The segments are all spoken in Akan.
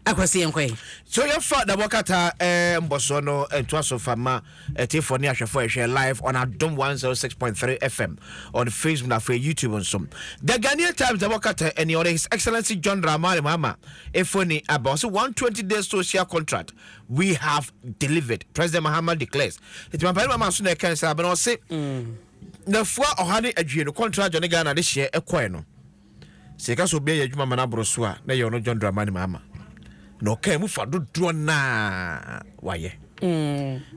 Akora se yɛnkɔ ɛ. So yɛfa dabɔ kata eh, mbɔsoɔ no ntoa so fa ma ɛtiefoɔ ne ahwɛfoɔ ɛhwɛ live on adom 106.3 fm on facebook na afei youtube nso the ghanaian times dabɔ kata ɛne ɔde his excellency john dramani mahama efoni aba ɔse 120 days social contract we have delivered president mahama declares ɛti mampani mama so na ɛka nsa abena ɔse mm. nafua ɔha ne adwie no contract ne ghana de hyeɛ ɛkɔɛ no Sɛ yɛka sɛ obi ayɛ adwuma ma no aboro so a, na ɛyɛ ɔno John Dramani Mahama. Na ɔkaa mu fa dodoɔ no a wayɛ.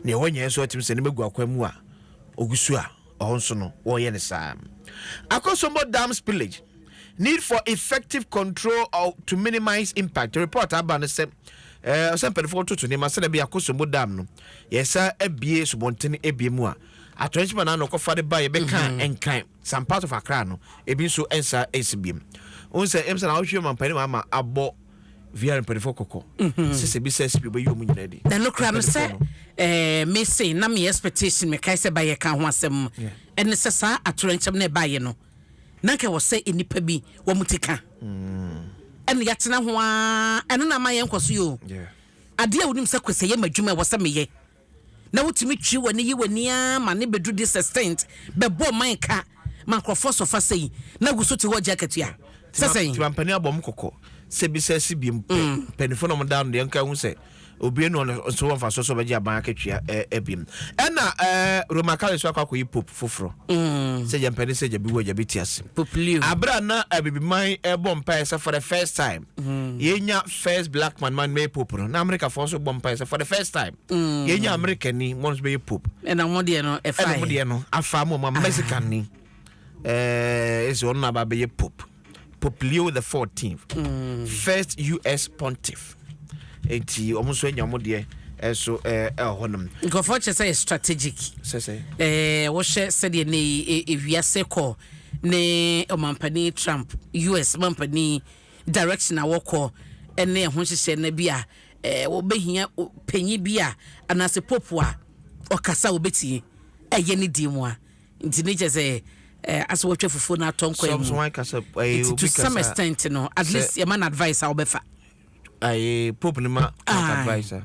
Nea wanyɛ nso atumi sɛ ne magu akwan mu a ɔgu so a ɔhɔ nso no wɔreyɛ no saa. Akosombo Dam Spillage, Need for Effective Control to Minimize Impact Report aba no sɛ ɛɛ sɛ mpanimfoɔ wɔtoto nneɛma sɛdeɛ ɛbɛyɛ Akosombo Dam no yɛsa abie subɔnten abie mu a atɔnkyema na ano kɔfa de ba yɛbɛka nkran. Some parts of Accra no, ebi nso nsa nsi biom. Wohu sɛ ɛm sɛ na wohwɛ ɔmampanin wɔ ama abɔ VR mpanimfoɔ kɔkɔ. Mhm. Sɛ sɛ bi sɛ SPO bɛyi wɔn nyinaa di. Na no kura me sɛ ɛɛ me se na me expectation me kae sɛ ba yɛ ka ho asɛm mu. Ɛne sɛ saa atorɛnkyɛm na ɛbaayɛ no. Na nka wɔ sɛ nnipa bi wɔn ti ka. Mm. ɛna yɛatena ho ara ɛno na ama yɛn nkɔso yi o adeɛ a wonim sɛ kwesɛ yɛ m'adwuma ɛwɔ sɛ meyɛ na wotumi twe w'ani yi w'ani ara ma ne bɛduru this extent bɛbɔ man ka ma nkurɔfoɔ sɔ fa sei na gu so te hɔ gye akatua sɛ sɛn. Nti mampanin abɔ mo kɔkɔ sɛ bisa si biom pɛ mpaninfoɔ na ɔmo da ano deɛ nka hu sɛ obie no ɔno nso wɔ mfasoɔ sɛ ɔbɛgye aban akatua ɛɛ biom ɛna ɛɛ Roma Kale nso akɔ akɔyi pope foforɔ sɛ gya mpanin sɛ gya bi wɔ gya bi ti ase abira na abibiman ɛbɔ mpaeɛ sɛ for the first time yɛnya First black man man mɛyɛ pope no na America foɔ nso bɔ mpaeɛ sɛ for the first time yɛnya America ni mo nso bɛyɛ pope ɛna ɔmo deɛ no ɛfa ɛna ɔmo deɛ no afa mo ɔmo Mexican ni ɛɛ esi ɔno na aba bɛyɛ pope Pope Leo the 14th mm. first US pontiff eti ɔmo nso anya ɔmo deɛ ɛso ɛɛ ɛhɔ nom. nkurɔfoɔ kyɛ sɛ yɛ strategic. sɛsɛ. ɛɛ wɔhyɛ sɛdeɛ ne ewiase kɔ ne ɔmampanin Trump US mampanin. direction a wɔkɔ ne ɛho nhyehyɛ na bi a eh, wɔbɛhia panyin bi a anaasɛ pope a ɔkasa a wɔbɛtumi ɛyɛ ne din mu a nti ne kyɛ sɛ eh, asɛ wɔtwa fufuo no atɔ nkwan mu nti to some extent no at least yɛma no advice a wɔbɛfa pope no ma advice a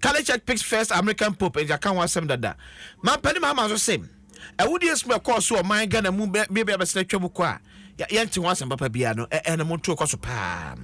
Catholic Church picks first American Pope and yɛaka ho asɛm dada. Mampanin Mahama nso se awudie sum a ɛkɔɔ so wɔ ɔman Ghana mu bɛ bia bia bɛsena atwa mu kɔ a yɛ yɛnte ho asɛm papa biara no ɛ ɛna montuo kɔ so paa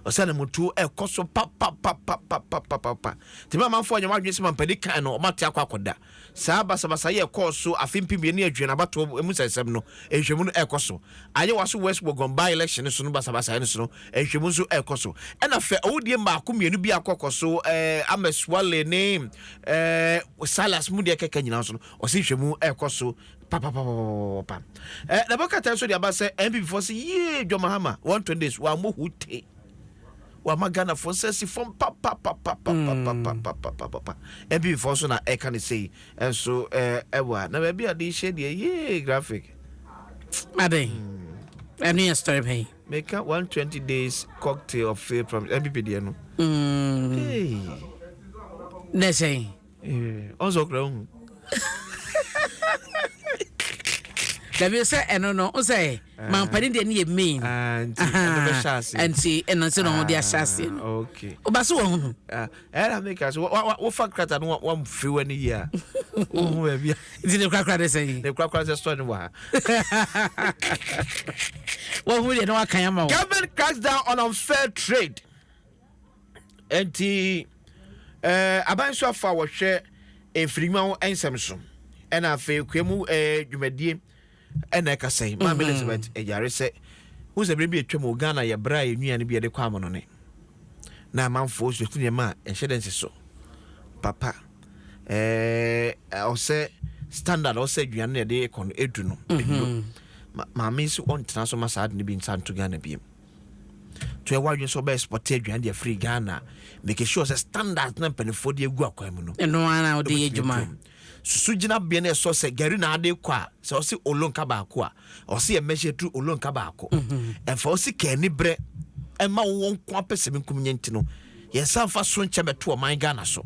ɔsɛ na montuo ɛkɔ so papapapapapapapa tɛmɛ amanfoɔ nyɛ wɔn adwene sɛ mampanin kan no wɔn ate akɔ akɔda Saa basabasa yi a ɛkɔɔ so afe mpem mmienu ne aduonu abatoɔ mu nsɛnsɛm no nhwehwɛmu no ɛrekɔ so. Ayewa so West Wuogon by-election no so no basabasayɛ no so no nhwehwɛmu nso ɛrekɔ so. Ɛna fɛ awudie mmaako mmienu bi a akɔkɔ so eh, Amesuale ne eh, Silas mu deɛ kɛkɛ nyinaa nso no ɔse nhwehwɛmu ɛrekɔ so papapapapapa. Eh, Nabakata nso de aba sɛ NPP foɔ se yie John Mahama wɔn twenty days wɔammɔ hute wama ghanafoɔ nsa asi fam papapapapapapapapapapa mpibifoɔ nso na ɛka ne sei nso ɛwɔ a na baabi a de hyɛ deɛ yee graphic aden ɛno yɛ story pɛn meka 120 days cocktail of fail promise mpp deɛ no na ɛsɛn ɔnsɔ kora hu dabi sɛ ɛno no nsɛ eh. mampani deɛ ne yɛ main ah, nti ɛno nti na ɔmo de ahyɛ ase no ɔba ah, so wɔn hunu. Ah, ɛna mi ka so wofa krata no wɔn firi wɔn ani yie a ohun baabi a. nti ne kurakura de sɛ yi. ne kurakura sɛ sɔɔ ne wɔ ha. wɔn hu deɛ ne wa kan ama wɔn. government cracks down on unfair trade. Enti, eh, aban suafo a wɔhwɛ mfirinyiwa ho nsɛm so ɛna afei kua mu eh, dwumadie ɛna ɛkasa yi maame mhm. Elizabeth ɛyare sɛ wohu sɛ bere bi atwam wɔ Ghana yɛ berɛ a yɛn nnuane bi yɛde kɔ amonone na amanfoɔ susu nneɛma a ɛnhyɛ dɛ nsi so papa eh, ɔsɛ standard ɔsɛ aduane na yɛde kɔ no edu no mhm. maame si ɔntena so ma saa ade no bi nsa nto Ghana biem. To yɛ w'adwene sɛ wobɛyɛ spɔte aduane de afiri Ghana. Make sure sɛ standards na mpanimfoɔ de agu akwan mu no. Ɛno ara na wode yɛ adwuma. Susu gyinabea no ɛsɔ sɛ gari na ade kɔ a, sɛ ɔse olonka baako a, ɔse yɛ measure through olonka baako. Ɛmfa wo sika anibrɛ ɛma wowɔ nko apɛ sɛ menkum nyɛ nti no, yɛnsa mfa so nkyɛ mɛto ɔman Ghana so.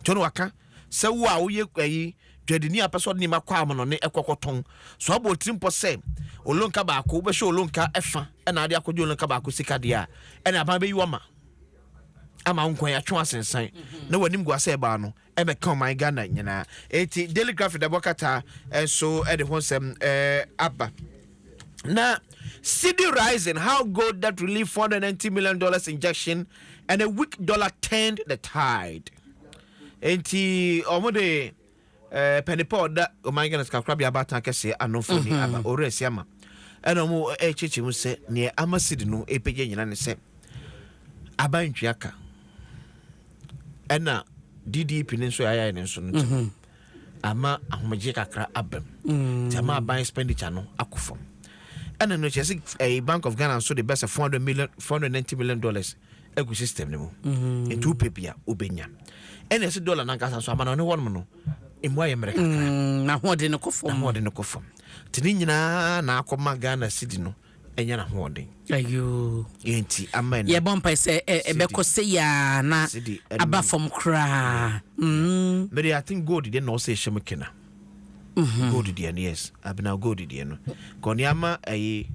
To no waka. Sɛ wo a woyɛ ayi dwadini a pɛ sɛ ɔde nneɛma kɔ amanɔne ɛkɔ kɔtɔn, so abɔ otirimpɔ sɛ olonka baako wobɛhwɛ olonka ɛfa ɛna ade akɔgye olonka baako sika deɛ a, ɛna aban bɛyi wo ama ama wo nkwan atwe asensan na w'anim gua sɛ ɛbaa no ɛbɛka ɔman Ghana nyinaa. Enti Daily Graphic da bɔ kataa nso ɛde ho nsɛm aba. Na Cedi rising, how gold debt relief $490 million injection and a weak dollar turned the tide. Enti wɔde eh, pɛnepɛ ɔda ɔman Ghana sikakorabea abaatan kɛseɛ ano mfoni mhm. aba ɔwerɛ asi ama ɛna wɔn ɛrekyerɛkyerɛ mu sɛ neɛ ama sidi no ɛpɛgya nyina ne sɛ aba ntwea ka ɛna DDP ne nso yɛayɛ ne nso no nti mhm. ama ahomegye kakra aba mu mm. nti ama aban expenditure no akɔ fam ɛna no kyerɛ sɛ ɛyɛ eh, bank of ghana nso de bɛsɛ four hundred million four hundred ninety million dollars agu system no mu mm-hmm. nti wopɛ bi a wobɛnya ɛna ɛsɛ dollar nankasa nso amana ɔne hɔnom no ɛmu ayɛ mmerɛ kakra mm, na hoɔde no kɔ fam na hoɔde no kɔ fam nti ne nyinaa na akɔma ghana city no ɛnyɛ n'ahoɔden. Ayoo. Yɛ nti ama ɛnɛ. Yɛbɔ mpae sɛ ɛ ɛbɛkɔ sɛ yaa na aba fam koraa. Mm. Mede I think gold deɛ na ɔsɛ ɛhyɛ mu kena. Mm-hmm. Gold deɛ no yes. Abena gold deɛ no. Kɔ nneɛma ɛyi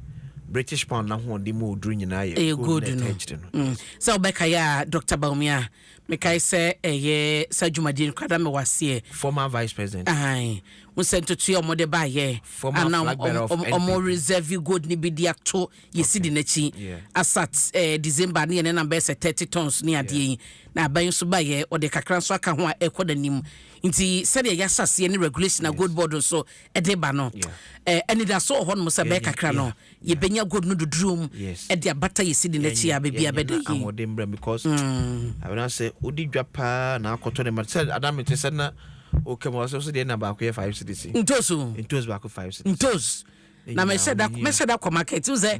British pound n'ahoɔden mu oduru nyinaa yɛ gold na ɛtɛ akyire no. Mm. Sɛ ɔbɛka yɛ a Dr. Bawumia Mekae sɛ ɛyɛ saa dwumadie no koraa na mewɔ aseɛ. Former vice president. Ae. Wohu sɛ ntotoeɛ a wɔde baeɛ a na wɔn reserve gold no bi de ato yɛ cedi no akyi. Asat eh, December ne yɛne nam bɛyɛ sɛ thirty tons ne adeɛ yi. Na aban yi nso baeɛ, wɔde kakra nso aka ho a ɛrekɔ n'anim. Nti sɛdeɛ yɛahyɛ aseɛ ne regulation a gold board nso de ba no, anidaso wɔ hɔnom sɛ bɛyɛ kakra no yɛbɛnya gold no dodrom de abata yɛn sidi no akyi a baabi a bɛda yie. ahoɔden brɛ because abena sɛ odi dwa paa na akɔtɔ ne ma sɛ adam te sɛ na ɔka mu ɔsɛ sɛ deɛ na baako yɛ five cedis ntoso ntoso baako five cedis ntoso na mɛhyɛ da mɛhyɛ da kɔ market wo sɛ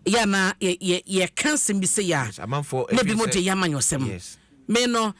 yɛ na yɛ yɛ yɛ kan sɛm bi sɛ yɛ a na bi mo de yɛ ama nyɔsɛm me no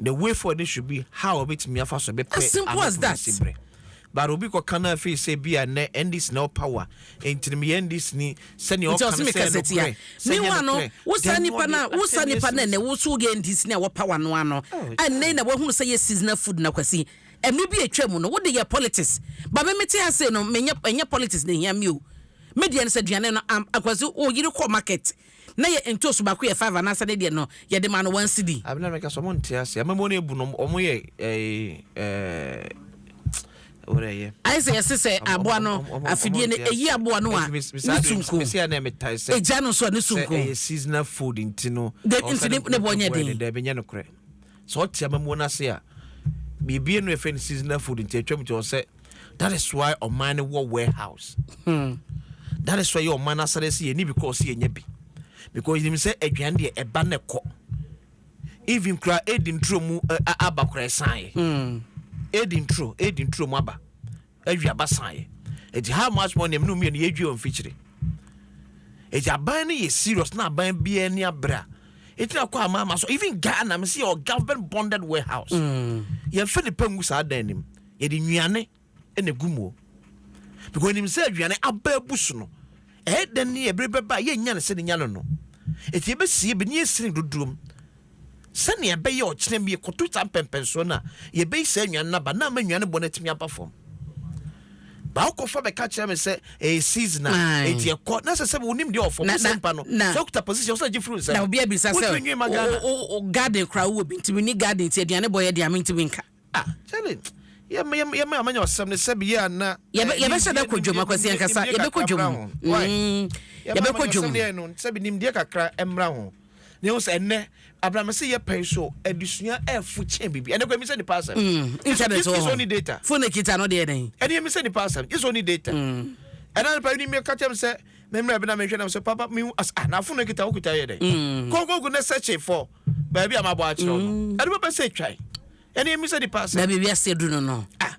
The way forward no should be how obetumi afa so bɛpɛ As simple as that. anapɛsi berɛ. But obi kɔka no afei sɛ bi a nnɛ NDC na ɛwɔ power nti no meyɛ NDC ni sɛnea nti ɔka ɔse no sɛ meka ɛyɛ sɛ tia nokorɛ sɛ ɛnyɛ mewa no nokorɛ. wo saa Then nipa wɔde no a wo saa asɛm nipa no ɛnɛ ɛsiesie. wo so woyɛ ndc ne a ɛwɔ power no ano Oh, it's ɛnɛ na wahunu sɛ yɛ seasonal food na kwasi ɛmere bi a ɛtwa mu no wode yɛ politics ba me mete ha sei no menyɛ ɛnyɛ politics na ɛhia me o me deɛ no sɛ aduane no am- akwasi wo yere kɔ market na yɛ ntoosu baako yɛ five anaasɛ ne deɛ no yɛde maa no one cedi. Abi na meka sɛ ɔmo nte aseɛ amammuo no abu no ɔmo yɛ ɛɛ ɛɛ wode ɛyɛ. Ayɛ sɛ yɛse sɛ aboa no afidie no ɛyi aboa no a ne su nko ɛgya no nso a ne su nko. Sɛ ɛyɛ seasonal food nti no nti ne boɔ nyɛ den. Daabi nyɛ nokorɛ sɛ ɔte amammuo no ase a biribi no yɛfrɛ no seasonal food nti atwam nti ɔsɛ. that is why ɔman no wɔ warehouse hmm. that is why yɛ ɔman asare sɛ yɛni because yɛnya bi because yɛnim sɛ aduane deɛ ɛba ne kɔ even kura ɛdi nturo mu aba kura ɛsaeɛ hmm. ɛdi nturo ɛdi nturo mu aba awi aba saeɛ ɛti how much money ɛmene mmienu yɛdwi wɔ mfikyire ɛti aban no yɛ serious na aban biara ni abere a ɛtumi akɔ ama ama so even ghana me sɛ yɛ government bonded warehouse mm. yɛmfa nipa ngu saa dan anim yɛde nnuane na egu mu o because onim sɛ aduane aba abu so no ɛyɛ dɛn ne ɛbere bɛba a yɛnnya no sɛ ne nya no no eti yɛbɛsie bi ne yɛsini dodoom sɛnea ɛbɛyɛ ɔkyena bi yɛkɔto saa mpɛmpɛnsoɔ no a yɛbɛyi saa nnuane no aba na ama nnuane bɔ no atumi aba fam baakɔfa bɛka kyerɛ me sɛ ɛyɛ eh, seasonal ɛti ɛkɔ na sɛ sɛ wonim deɛ ɔfɔ wosɛ mpa no sɛ wokuta position sɛ gye firi nsɛm na obi abisa sɛ garden koraa wowɔ bi ntimi ni garden nti aduane bɔ yɛ deɛ ame ntimi nka Ah Charlie yɛ me yɛ me amanya ɔsɛm ne sɛ beyɛ ana eh, yɛbɛhyɛ da kɔ dwom akwasi ankasa yɛbɛkɔ dwom mm, yɛbɛkɔ dwom deɛ no sɛ bi nimdeɛ kakra mmra ho ne ho sɛ ɛnɛ abramese yɛ pɛn so adesua ɛfo kyɛn bibi ɛnɛ kɔ ɛmi sɛ nipa asɛm mm, internet wɔ hɔ phone kita no deɛ dɛn ɛne ɛmi sɛ nipa asɛm gye sɛ ɔni data mm. ɛna nipa yi ni mi ka kyɛm sɛ mɛmɛ ɛbɛn na mɛhwɛ na sɛ papa mi as ah na phone kita ɔkuta yɛ dɛn kɔnkɔnkɔ ne sɛ kye fɔ. baabi a mabɔ akyerɛ no mm. ɛde bɛbɛ sɛ twan ɛne ɛmi sɛ nipa sɛ baabi wiase du no no ah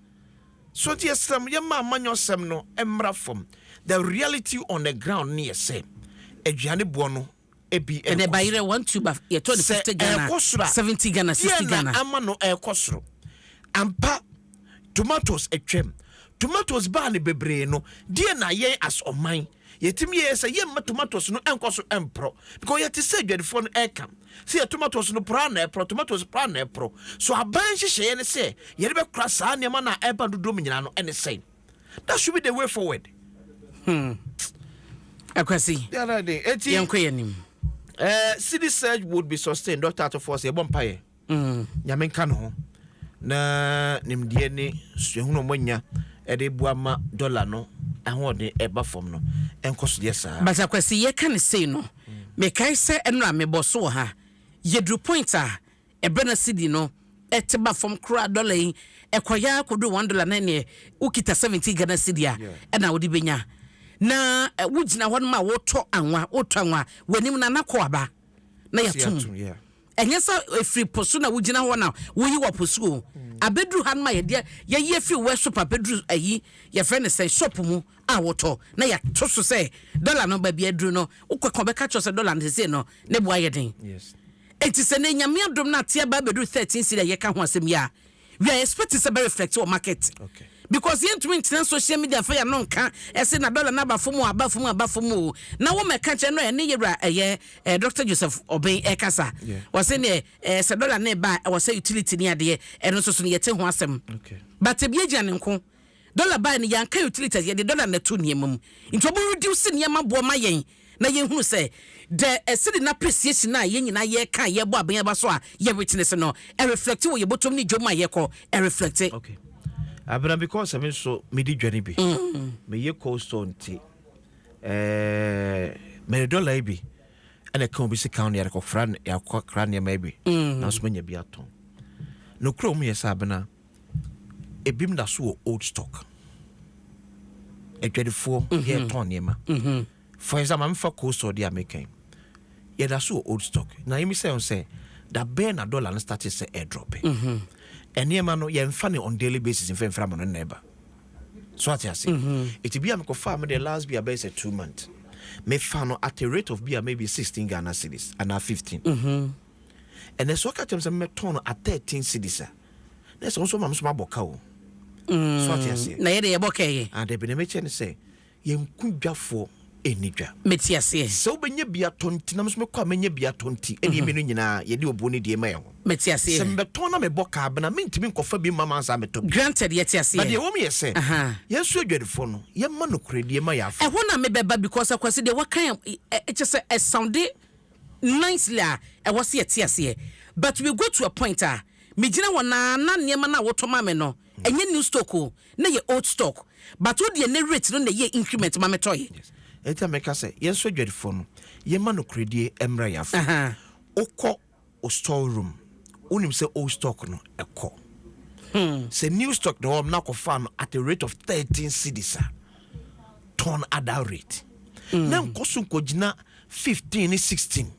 so nti yɛsrɛ m yɛma amanyɔ sɛm no mmra fam the reality on the ground ne yɛ sɛ aduane boɔ no ebi ɛkɔ ɛnɛ bayerɛ one two ba yɛtɔ ne fifty ghana ɛkɔ soro a seventy ghana sixty ghana yɛn ama no ɛkɔ soro ampa tomatoes atwam tomatoes baa ne bebree no deɛ na yɛn as ɔman. Oh Yɛtumi yɛ sɛ yɛmma tomatoes no nkɔ so mporɔ because yɛte sɛ adwadifoɔ no ɛka sɛ yɛ tomatoes no porɔ na ɛporɔ tomatoes porɔ na ɛporɔ so aban nhyehyɛeɛ ne sɛ yɛde bɛkora saa nneɛma no a ɛba dodoɔ mu nyinaa no ɛne sɛn that should be the way forward hmm. akwasi yɛnkɔ yɛ nim uh, eh, city surge would be sustained dr atofo sɛ yɛbɔ mpaeɛ Nyame nka no ho na nimdeɛ ne suahunu a ɔmo anya de boa ma dɔla no ahoɔden ɛba fam no nkɔ so yɛ saa. But Akwasi yɛ ka no sei no mekae sɛ ɛnora me bɔ so wɔ ha yɛ duru point a ɛbrɛ na cedi no ɛte ba fam koraa dɔla yi ɛkɔ yɛ ara kɔ duru one dɔla na ɛneɛ wo kita seventeen Ghana cedi a ɛna wode bɛ nya na wo gyina hɔ nom a wo tɔ anwa wo tɔ anwa wɔ anim no ana kɔ aba na yɛ ato mu. Ɛnyɛ sɛ ɛfiri po so na wogyina hɔ na woyi wɔ po so o. Abɛduru ha no ma yɛdeɛ yɛyi afiri workshop abɛduru ayi yɛfrɛ no sɛ shop mu a wotɔ na yɛato so sɛ dɔla no baabi aduru no wokɔka ɔbɛka kyerɛ sɛ dɔla no sesei no ne boa yɛ den. Enti sɛ na nyame adom no ateɛ ba abɛduru 13 siri a yɛka ho asɛm yi a we are expecting sɛ bɛ reflect wɔ market because yɛn ntumi ntena social media nfa yɛn ano nka ɛsɛ na dollar na aba fam o aba fam aba fam o na wɔn mɛka kyerɛ no ɛne yɛwura ɛyɛ ɛɛ Dr Joseph Obeng ɛkasa wɔsɛ ne ɛɛ sɛ dollar ne ba ɛwɔ sɛ utility ne adeɛ ɛno nso so no yɛte ho asɛm but ebi egyina ne nko. Dollar bae no yɛanka utilities yɛde dollar na ɛtoo nneɛma mu nti ɔmo reduce nneɛma boɔ ma yɛn na yɛn hunu sɛ the cedi no appreciation a yɛn nyinaa yɛreka a yɛrebɔ abɛn aba so a yɛ witness no ɛreflecte wɔ yɛn bɔtɔm ne dwom a yɛkɔ ɛreflecte. Okay Abena because me nso medi dwa no bi meyɛ cold store nti ɛɛɛ mede dollar yi bi ɛna ɛka obi sika ho na yɛde kɔfra yɛakɔkra nneɛma yi bi nanso manya bi atɔn nokura ɔmo yɛ sɛ Abena. ebinom da so wɔ old stock adwadifoɔ mhm. yɛtɔn nneɛma mhm. for example mefa coastal deɛ a meka yi yɛda so wɔ old stock na yɛmi sɛ ho sɛ da bɛɛ na dollar no starte sɛ airdrope mhm. nneɛma no yɛmfa ne on daily basis mfa mfra ma no nnɛ ba so ate ase ɛti bi a mekɔfaa me deɛ last bi a bɛyɛ sɛ two month mefa no at a rate of bi a maybe 16 ghana cities anaa 15 ɛnɛ so ɔka kyɛm sɛ mɛtɔn no at 13 cities a Na sɛ wo nso ma me nso mabɔ ka o. So ate aseɛ? Na yɛ de yɛbɔ ka yɛ. Ah dabi na mekyɛ ne sɛ yɛn ko dwafoɔ ɛnni dwa. Mete aseɛ. Sɛ wobɛnya bi atɔ nti na me nso mekɔ a mɛnya bi atɔ nti ɛne mmienu nyinaa yɛde obuo no die ma yɛn ho. Mete aseɛ. Sɛ mebɛtɔn na mebɔ ka bena mentumi nkɔfa bi mma mo ansa metɔ bi. Granted yɛte aseɛ. But deɛ ɛwɔ mu yɛ sɛ yɛn nso adwadifoɔ no yɛmma nokorɛdie ma yɛn afɔ. Ɛhɔ na mebɛba because Akwasi deɛ waka yɛ kyɛ sɛ ɛsoundi nicely a ɛwɔ sɛ yɛte aseɛ but we go to a point a Megyina hɔ na na nneɛma no a wotɔ ma me no, ɛnyɛ new stock o, na ɛyɛ old stock. But wo deɛ nnɛ rate no na ɛyɛɛ increment ma metɔeɛ. Yes. Ɛnti na meka sɛ yɛn nso adwadifoɔ no, yɛmma nokorɛdie mmra yɛn afa. Wokɔ wo store room, wonim sɛ old stock no, kɔ. Sɛ new stock na ɛwɔ hɔ na akɔfaa no at a rate of thirteen cedis a, tɔn at that rate. Na nkɔ so nkɔgyina fifteen ne sixteen.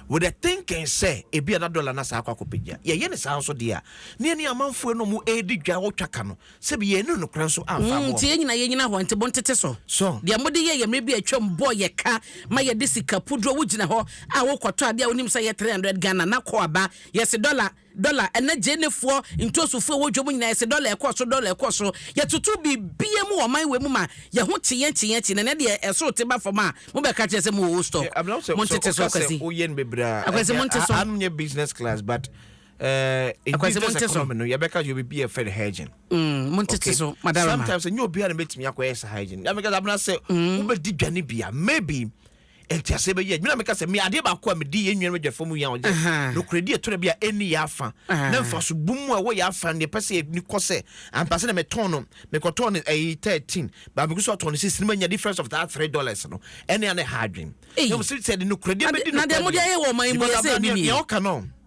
With the thinking sɛ ebia na dɔla no asan akɔ akɔpagya. Yɛyɛ no saa nso deɛ a, na yɛne amanfoɔ nom redi dwa wɔ twaka no, sɛbi yɛannu no koraa nso amfa ammoa Nti yɛn wɔn. nyinaa yɛnyina hɔ, nte bontete so. So. Deɛ mode yɛeɛ mmerɛ bi a atwam bɔɔ yɛ ka ma yɛde sika puduro, wogyina hɔ a worekɔtɔ adeɛ a wonim sɛ ɛyɛ 300 Ghana na kɔ aba, yɛse dɔla, Dɔla, ɛna Gyenefoɔ ntosofoɔ ɛwɔ dwom nyinaa yɛse dɔla ɛkɔ soro dɔla ɛkɔ soro yɛtoto biribiaa mu wɔ ɔman wei mu ma yɛho kye yɛn kye yɛn kye na ɛnɛ deɛ ɛsoro te ba fam a mobɛka kyerɛ sɛ mowɔ old stock montete so Akwasi Akwasi monte so Akwasi monte so montete so Madarema. ntease bɛyɛ adwuma na meka sɛ me adeɛ baako a medi yɛn nua no adwafa mu yɛn ɔyɛ nokorɛdi ɛtɔ da bi a ɛnni yɛ afa na mfaso bum mu a ɛwɔ yɛ afa no deɛ pɛ sɛ ɛni kɔ sɛ ampa sɛ na metɔn no mekɔtɔn no ɛyi thirteen ba meko so atɔn no sisi no manya difference of that three dollars no ɛne a na ɛha adwen na mo sɛ sɛ de nokorɛdi bɛdi nokorɛdi na deɛ mo deɛ yɛ wɔ ɔman mu yɛ sɛ ɛni ni yɛ ɔka no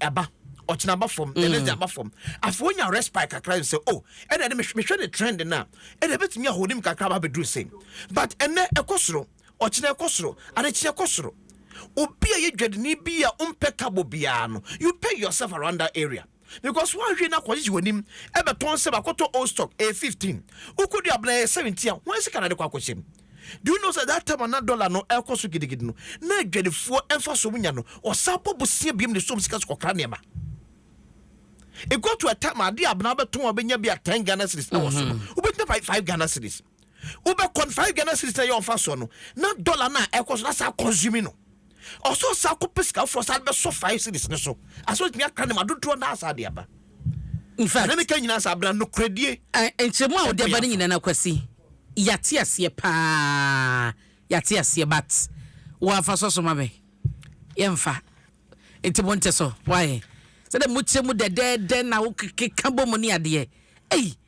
ɛba ɔkyena ba fam the next day aba fam afei wonya respite kakra n sɛ o oh, ɛna ɛde mehwɛ ne trend no a ɛna ɛbɛtumi ahonim kakra aba bɛduru sei but ɛnɛ ɛkɔ soro ɔkyena ɛkɔ soro adekyeɛ kɔ soro obi a yɛ dwadini bi a wompɛ kabo biara no you pay yourself around that area because woanhwɛ no akɔgyegye w'anim ɛbɛtɔn sɛ bakɔtɔ old stock ɛyɛ 15 wokɔdu abena ɛyɛ 17 a wɔn sika na de kɔ akɔhyɛm Do you know sɛ that time a na dollar no ɛrekɔ so gidigidi no, na adwadifoɔ mfasoɔ ɔmo nya no, ɔsan bɔ bosea biom de som sika so kɔkra nneɛma. It got to a time a adeɛ a abena bɛtɔn a ɔbɛnya bi a ten Ghana cedis ɛwɔ so no, wobɛtumi afa five Ghana cedis. Wobɛkɔ no five Ghana cedis na ɛyɛ ɔmfasoɔ no, na dollar no a ɛrekɔ so na saa consume no. ɔsɔ sa kɔ pɛ sika foforɔ sa bɛsɔ five cities no so asɛ ɔtumi akra ne ma dodoɔ naa saa de aba nfa ne meka nyinaa saa bra nokorɛdie nkyerɛmu a wode aba no nyinaa no akwasi yɛate aseɛ paa yɛate aseɛ but wɔafa sɔ so ma me yɛmfa nti mo nte so wayɛ sɛdɛ mokyerɛ mu dɛdɛɛdɛ na wokeka bɔ mu ne adeɛ ei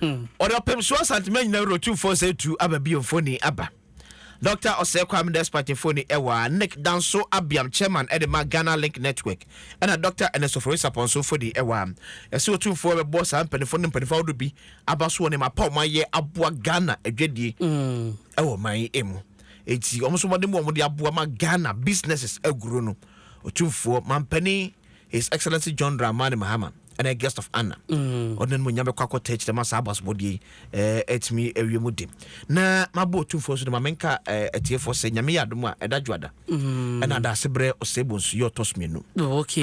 Ɔde ɔpem so asantema nyina wuro tu mfo sɛ tu aba bio mfoni aba. Dɔkta Ɔsɛɛ Kwame Despite mfoni ɛwɔ a Nick Danso Abiam Chairman ɛde ma Ghana Link Network ɛna Dɔkta Ernest Ofori Sapon nso mfoni ɛwɔ a yɛse otu mfo ɛbɛboɔ saa mpanyinfo ne mpanyinfo ahodoɔ bi aba so wɔ nneɛma pa a wɔayɛ aboa Ghana adwadie ɛwɔ ɔman yi emu enti wɔn nso mmɔden mu a wɔde aboa ma Ghana businesses aguro no Otumfoɔ Mampanin His Excellency John Dramani Mahama ɛna guest of honor ɔde n'animuonyam bɛkɔ akɔtɛ kyerɛ ma saa abasomɔdeɛ yi atumi awie mu de na mabɔ otumfoɔ nso de ma menka atiefoɔ sɛ nyame yɛ adom a ɛda dwoada ɛna ada ase berɛ ɔsɛe bonsu yɛ ɔtɔ so mmienu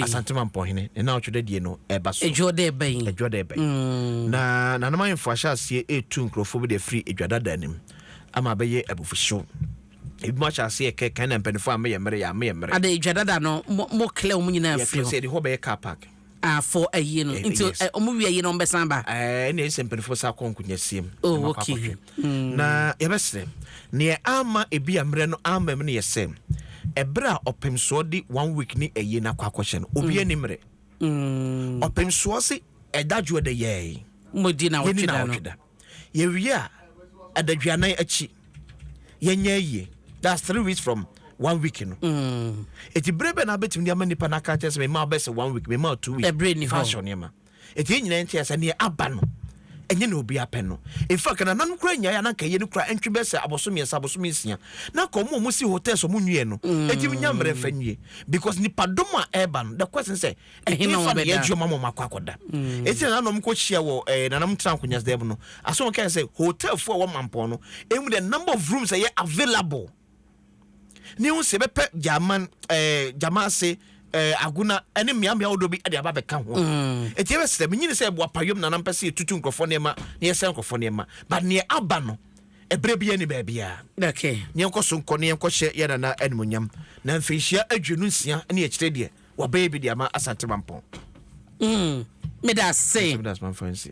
asantema mpɔhene ne na ɔtwe da die no ɛba so adwoɔ dɛ bɛn adwoɔ dɛ bɛn na nanom ayemfo ahyɛ aseɛ ɛtu nkurɔfoɔ bi de afiri adwadada anim ama bɛyɛ abufuhyew Ebinom ahyɛ aseɛ kɛ kan na mpanifoɔ a meyɛ mmere yɛ a meyɛ mmere. Ada edwa dada no mo mo clear wɔn nyinaa firi hɔ. Yɛtena sɛ yɛde hɔ bɛyɛ car park. Ah for ayie no nti wɔn wie ayie no wɔn bɛsan aba. Ɛɛ ɛna ɛsɛ mpanifoɔ bɛsan akɔ nkunyɛsie mu. Oh ok na yɛbɛsrɛ neɛ ama ebi a mmerɛ no ama mu no yɛ sɛ ɛberɛ a ɔpemsoɔ de one week ne ayie no akɔ akɔhyɛ no obiara ni mmerɛ ɔpemsoɔ se ɛda dwoɔ dɛ yɛɛ. Mo di na wɔtwe da no. Yɛwie a, adaduanan akyi, yɛnyɛ ayie. That's three weeks from one week no. Mm. Eti bere bɛ na abɛtumi de ama nipa no aka kyerɛ sɛ mema wobɛsɛ one week, mema two week. Ɛbere ni hɔ. Fa ahyɛ nneɛma. Eti yɛn nyinaa nkyɛn sɛ neɛ aba no, ɛnyɛ na obi apɛ no. In fact, nananom kura nyaeɛ a na nka yɛ no kura ntwe bɛ sɛ abɔso mmiɛnsa, abɔso mmiɛnsia. Na nka ɔmo a ɔmo si hotels ɔmo nwie no, mm. eti nya mmerɛ mfa nwie. Because nipadɔm a ɛreba no, the question sɛ, Ɛhene fa ne yɛdwo ma mɔm akɔ akɔda. Ɛti na nanom kɔ hyia wɔ eh, nanom tra nkonyas dɛm no. Aso wɔn kɛn sɛ hotel fo a wɔ mampɔn no, emu the number of rooms ɛyɛ available. Ne ho sɛ bɛpɛ German, eh, German ase, eh, agona ɛne mmeammea wodoɔ bi ɛde aba bɛka ho. Ɛti mm. ɛbɛ sɛ menyini sɛ ɛboa payom nanom pɛ sɛ yɛtutu nkurɔfoɔ nneɛma na yɛsɛ nkurɔfoɔ nneɛma. But neɛ aba no, ɛberɛ bi ɛne baabiara. Okay. Ne yɛnkɔ so nkɔ ne yɛnkɔ hyɛ yɛ nana animonyam. Na mfinhyia aduonu nsia ne ɛkyerɛ deɛ. Wabɛyɛ bi de ama Asante Mampɔn. Mm, meda ase. Asɛm da Asmanfoɔ nse.